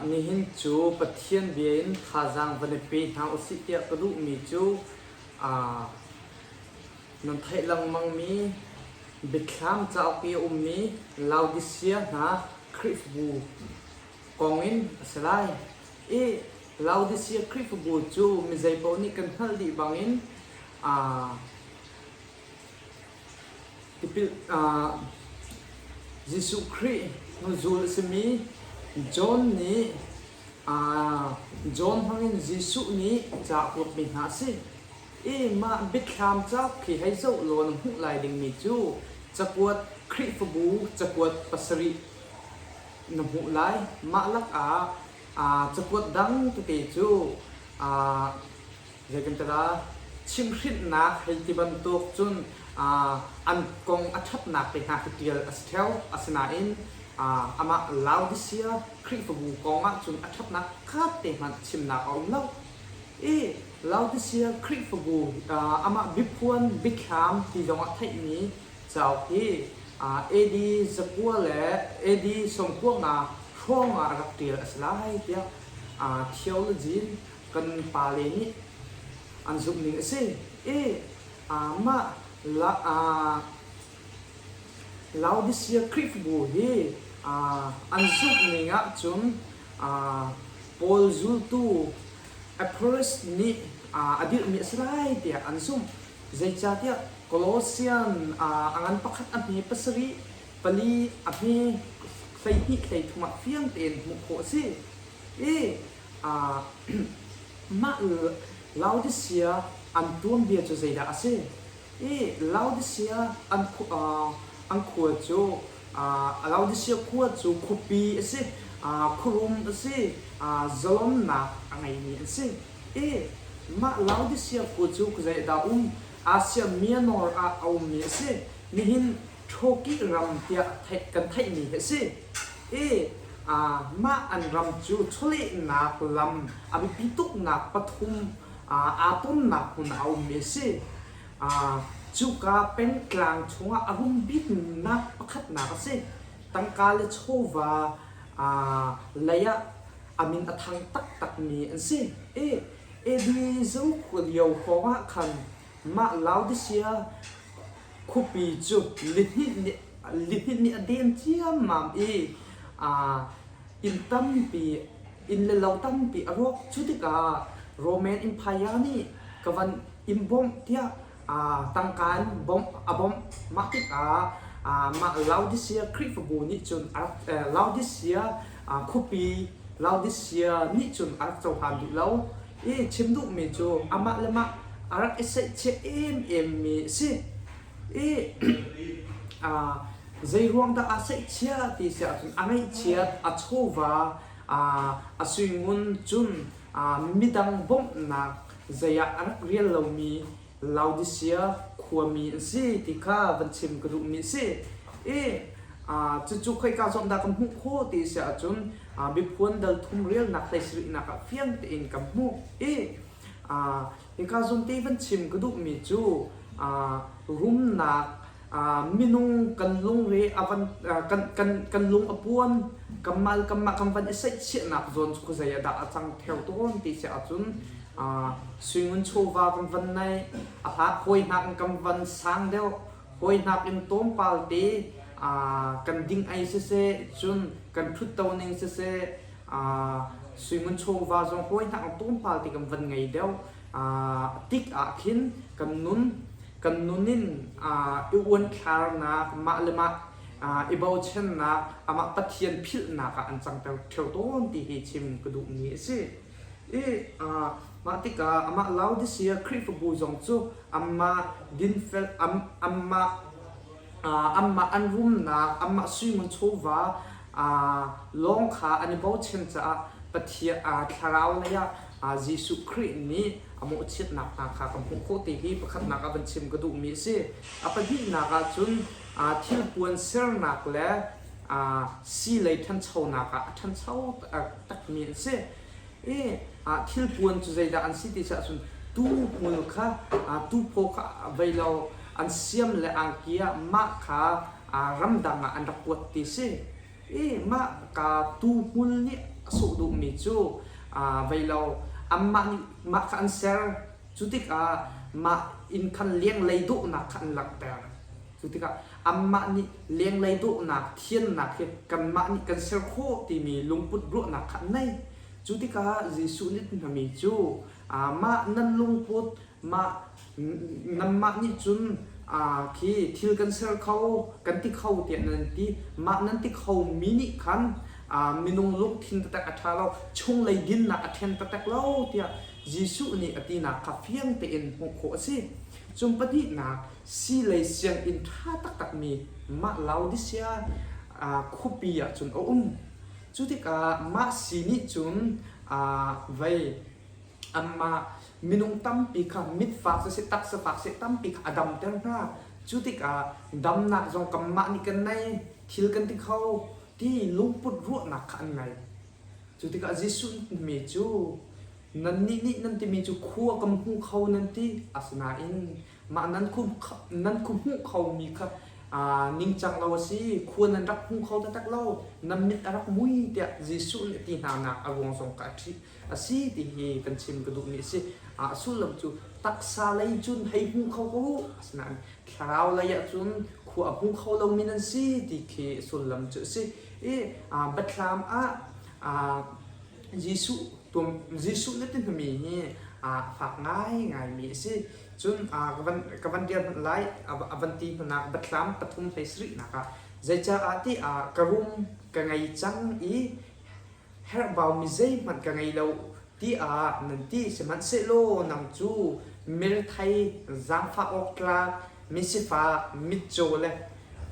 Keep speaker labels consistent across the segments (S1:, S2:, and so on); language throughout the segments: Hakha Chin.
S1: Nihin cu Pathian bia in thazaang van i pe hna u sih tiah ka duhmi cu nan theih lengmangmi Biathlam cauk i a ummi Laodisia hna Khrihfabu kong in a si lai. I Laodisia Khrihfabu cu mi zeipaoh nih kan hngalh dih bangin Jesuh Khrih hnuzul a simi John nih John hmangin Jesuh nih a cakuatmi hna a si i mah Biathlam cauk khi hei zoh law na hmuh lai dingmi cu cakuat Khrihfabu cakuat pasarih na hmuh lai. Mah lakah cakuat dang tete cu Zeitintiah chimhhrinhnak hei ti bantuk cun an kong a ṭhatnak te hna khi ṭial a si theo, asinain amah Laodisia Khrihfabu kong ah cun a ṭhatnak pakhat te hmanh chimnak a um lo i Laodisia Khrihfabu amah biaphuan biathlam ti zong ah theihmi cauk hi AD zakua le AD sawmkua nga hrawng ah rak ṭial a si lai tiah theology in Kan pale nih an zumh ning a si. E, Mah Laodisia Khrihfabu hi an zumh ning ahcun Paul zultu Epirus nih a dirhmi a si lai tiah an zumh. Zeicahtiah Colossian a ngan pakhat a hme pasarih, pali a hme hleihnih hleithum ah fiang tein hmuh khawh a si. E, Mah Laodisia an tuanbia cu zeidah a si i Laodisia an khua cu Laodisia khua cu khuapi a si, khuarum a si, zalonnak a ngeimi an si i mah Laodisia khua cu dah a um? Asia Mianor ah a ummi a si. Nihin Ṭhawkih ram tiah theih kan theihmi hi a si i mah an ram cu chawlehnak lam a biapi tuknak pathum aa tonnak hmun ah a ummi a si. Cuka pengtlang chungah a rum biknak pakhatnak a si. Tangka le chawva lei ah a min a thang taktakmi an si i Edrei Zokhua lio hrawngah khan Mah Laodicea khuapi cu lihnin nih a den ciammam i inn tampi, inn le lo tampi a rawk. Cu tikah Roman Empire nih ka van in bawmh tiah tangka in a bawmh. Mah tikah mah Laodicea Khrihfabu nih cun Laodicea khuapi Laodicea nih cun a rak cohlan duh lo. i chim duhmi cu amah le mah a rak i seihcheh ememmi a si i zeiruang dah aa seihchia ti si ahcun a ngaihchiat a chawva a suingun cun midang bawmhnak zei ah a rak rial lomi Laodisia khuami an si ti kha van chim ka duhmi a si i cucu khoika zong dah kan hmuh khawh ti si ahcun miphun dal thum relnak hlei sarihnak ah fiang tein kan hmuh i hika zumte i van chim ka duhmi cu rumnak minung kan lungre a van kan kan kan lung a puan kanmah le kanmah kan van i seihchiahnak zawn cu ka zei a dah a cang theo tawn ti se ahcun suingun chawva kan van nei a hla hawinak in kan van sang deuh hawinak in tawmpal te kan ding ai sese cun kan ṭhutto ning sese suingun chawva zong hawinak in tawmpal te kan van ngei deuh a tik ah khin kan nun Kan nun in i uanthlarnak, mah le mah i bochannak, amah Pathian philhnak ah an cangter ṭheo tawn ti hi chim ka duhmi a si. I mah tikah amah Laodisia Khrihfabu zong cu amah dinfel, amah anmah an rumnak, anmah suingun chawva lawng kha an i bochan caah Pathian thlarau lei ah Jesuh Khrih nih a mawhchiatnak hna kha kan hmuh khawh ti hi pakhatnak ah van chim ka duhmi a si. A pahnihnak ah cun thilpuan sernak le sii lei ṭhanchonak ah a ṭhancho taktakmi an si. ah thilpuan cu zeidah an si ti si ahcun tuuhmul kha tuuphaw kha vei law an siam le angki ah mah kha ramdang ah an rak kuat ti si i mah ka tuuhmul nih a sungh duhmi cu vei law anmah nih mah kha an ser cu tikah mah inn than lianglei duhnak kha an langhter Cu tikah anmah nih lenglei dawhnak, thiannak hi kanmah nih kan ser khawh timi lungput ruahnak kha an ngei. Cu tikah Jesuh nih a ti hngami cu, Mah nan lungput, mah nanmah nih cun khi thil kan ser kho, kan ti kho tiah nan ti. Mah nan ti khomi nih khan minung lungthin taktak a ṭha lo, chunglei dinnak a ṭhen taktak lo tiah Jesuh nih a tinak kha fiang tein hmuh khawh a si. Cun pahnihnak, sii lei sianginn ṭha taktakmi mah Laodisia khuapi ah cun a um. Cu tikah mah sii nih cun vei anmah minung tampi kha mitfak siseh, taksa fak siseh tampi kha a damter hna. Cu tikah damnak zong kanmah nih kan ngei, thil kan ti kho ti lungput ruahnak kha an ngei. Cu tikah Jesuh nih mi cu Nannih nih nan timi cu khua kan hmu kho nan ti. Asinain mah nan khu nan khu hmuh khomi kha aa ningcang lo a si. Khua nan rak hmu kho taktak lo. Nan mit a rak mui tiah Jesuh nih ti hnanak a ruang zong kha a ṭih a si ti hi kan chim ka duhmi a si. A sullam cu taksa lei cun hei hmu kho ko u. Asinain thlarau lei ah cun khua a hmu kho lomi nan si ti khi sullam cu a si. I biathlam ah aa Jesuh, pum, Jesuh na ti hmumi hi a fak ngaingaimi a si. Cun a ka van, ka van dir hmanh lai, a, a van ti hnanak batthlam pathum hlei sarihnak ah, zeicaah ti ah ka rum ka ngei cang i herhbaumi zeihmanh ka ngei lo tiah nan ti. Sihmanhsehlaw nang cu mirthei, zaangfah awktlak, misifak, mitcaw le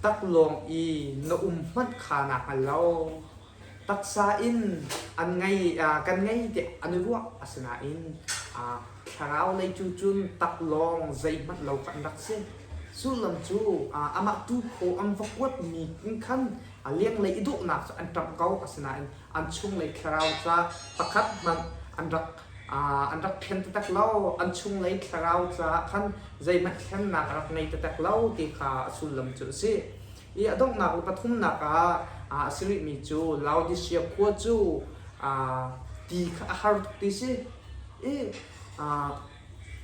S1: taklawng i na um hmanh kha naa hngal lo. taksa in an ngei kan ngei tiah an i ruah asinain thlarau lei cu cun tak lawng zeihmanh lo kan rak si sullam cu amah tuukhaw an va kuatmi in khan a lenglei i dawhnak cu an ṭamh ko asinain an chunglei thlarau ca pakhat hmanh an rak an rak thlen taktak lo an chunglei thlarau caah khan zeihmanh thlennak a rak ngei taktak lo ti kha a sullam cu a si I a donghnak le pathumnak ah a si rihmi cu Laodisia khua cu ti kha a har tuk ti si i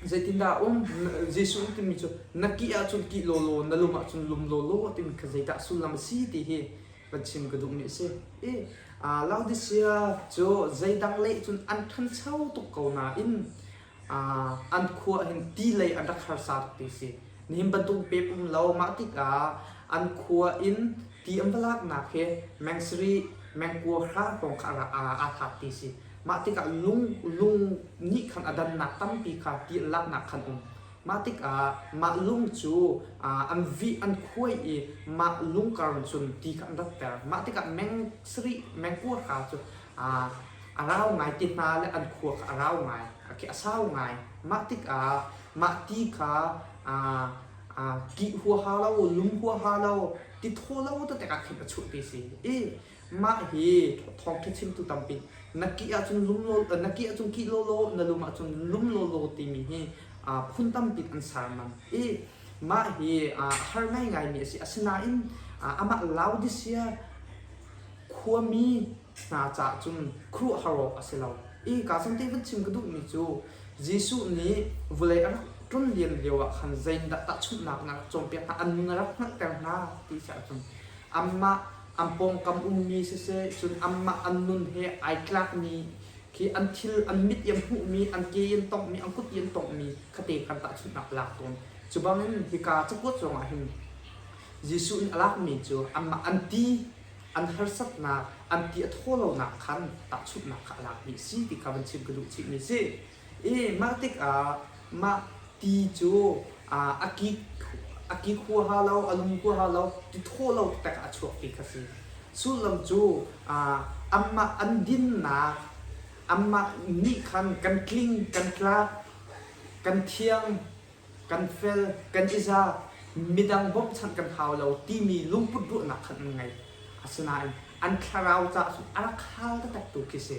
S1: zeitindah a um? Jesuh nih timi cu na kih ahcun kih lawlaw, na lung ahcun lum lawlaw timi kha zeidah sullam a si ti hi va chim ka duhmi a si. I Laodisia cu zeidang lei cun an ṭhancho tuk ko nain an khua ahhin ti lei an rak harsa tuk ti si. Nihin bantuk pep um lo. Mah tikah an khua in ti an va laknak hi mengssiri, mengkua hra kong kha aa thlak ti si. Mah tikah lung lung nih khan a dannak tampi kha ti an laknak khan um. Mah tikah mah lung cu an vih an khuai i mah lung karang cun ti kha an ratter. Mah tikah mengssiri, mengkua hra cu a rau ngai ti hna le an khua kha a rau ngai, a ke a sau ngai. Mah tikah mah ti kha aa kih huaha lo, lum huaha lo, ti thaw lo tete ah khin a chuah ti a si i mah hi thawngṭha chimtu tampi na kih ahcun lum lawlaw na kih ahcun kih lawlaw na lum ahcun lum lawlaw timi hi phun tampi an sermam i mah hi a har ngaingaimi a si asinain amah Laodisia khuami hna caah cun khuruahhar awk a si lo. Innka sante vun chim ka duhmi cu Jesuh nih vawlei a rak ṭum liam lioah khan zeindah tahchunhnak na rak cawnpiak hna, an ning a rak hngalhter hna ti si ahcun amah an pawngkam ummi siseh cun amah an nun he ai tlakmi khi an thil, an mit i an hmuhmi, an ke i an tonghmi, an kut i an tonghmi kha te kha an tahchunhnak a lak tawn. Cu bangin hika cakuat zongah hin Jesuh nih a lakmi cu amah an ti an harsatnak, an ti a thaw lonak khan tahchunhnak kha a lakmi a si ti kha vun chim ka duh chihmi a si. I mah tikah mah ti cu a ki a ki huaha lo, a lum huaha lo, ti thaw lo tikah a chuakmi kha a si. Sullam cu amah an dinnak, amah nih khan kan tling, kan tlak, kan thiang, kan fel, kan i za, midang bawmhchanh kan hau lo timi lungput ruahnak khan an ngei. Asinain an thlarau caah cun a rak hal taktaktu khi si,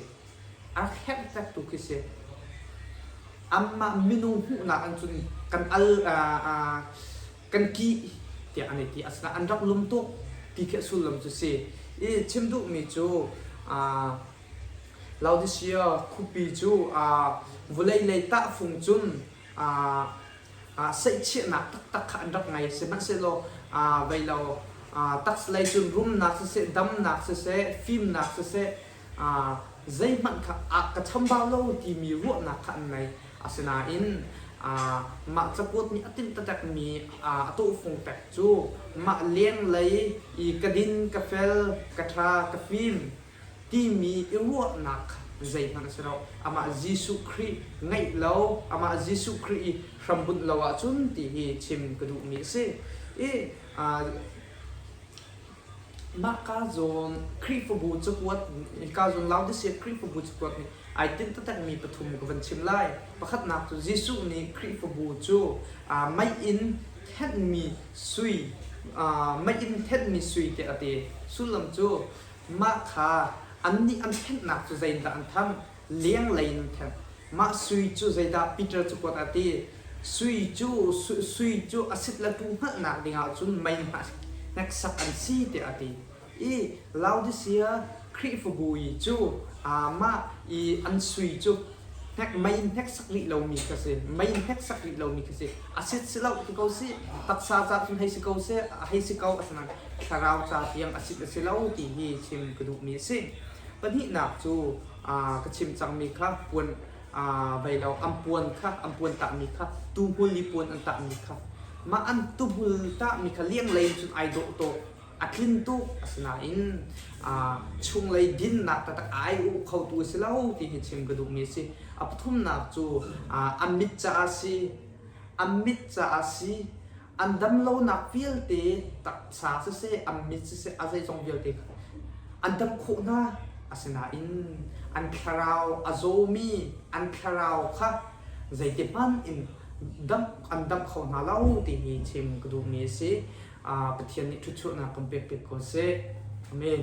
S1: a rak herh taktaktu khi si. Amah minung hmuhnak in cun kan al, uh, kan ki tiah an i ti. Asinain an rak lum tuk ti khi a sullam cu si. I chim duhmi cu uh, Laodicea khuapi cu uh, vulei lei tahfung cun aa seihchiahnak taktak kha an rak ngei, sihmanhsehlaw vei lo tax lei cun rumnak siseh, damnak siseh, fimnak siseh, zeihmanh kha a ka chambau lo timi ruahnak kha an ngei. Asinain mah cakuat nih a timh taktakmi a tawhfung pek cu mah lenglei i ka din, ka fel, ka ṭha, ka fim, timi i ruahnak kha zeihmanh a si lo. Amah Jesuh Khrih ngaih lo, amah Jesuh Khrih i hrambunh lo ahcun ti hi chim ka duhmi a si. I mah kaa zawn Khrihfabu cakuat, kaa zawn Laodicea Khrihfabu cakuat nih ai tinh taktakmi pathum ka van chim lai. Pakhatnak cu Jesuh nih Khrihfabu cu aa maiih in thenhmi sui, aa maiih in thenhmi sui tiah a ti. Sullam cu Mah kha annih an thlennak cu zeidah an thanh? Lenglei in an thenh. Mah sui cu zeidah? Peter cu kuat a ti. Sui cu sui cu a sit le ṭu hngalhnak ding ah cun mei hneksak an si tiah a ti. I Laodisia Khrihfabu i cu aamah i an sui cu hnek mei in hneksak rih lomi ka si mei in hneksak rih lomi ka si a sit si lo ti ko si taksa ca cu hei si ko si a hei si ko asana thlarau ca tiang a sit a si lo ti hi chim ka duhmi a si pahnihnak cu ka chim cangmi kha puan veilo ampuan kha ampuan tahmi kha tuhmul i puan an tahmi kha mah an tuhmul tahmi kha lianglei cun ai dawh tawk a tlin tuk asinain chunglei dinnak taktak ai u khotu a si lo ti hi chim ka duhmi a si a pathumnak cu a mit caah si a mit caah si an damlonak vialte taksa siseh a mit siseh a zeizong vialte an dam khawh hna asinain an thlarau a zawmi an thlarau kha zeiti hmanh in dam an dam kho hna lo ti hi chim ka duhmi a si Pathian nih ṭhutchuahnak kan pek pek ko seh. Amen.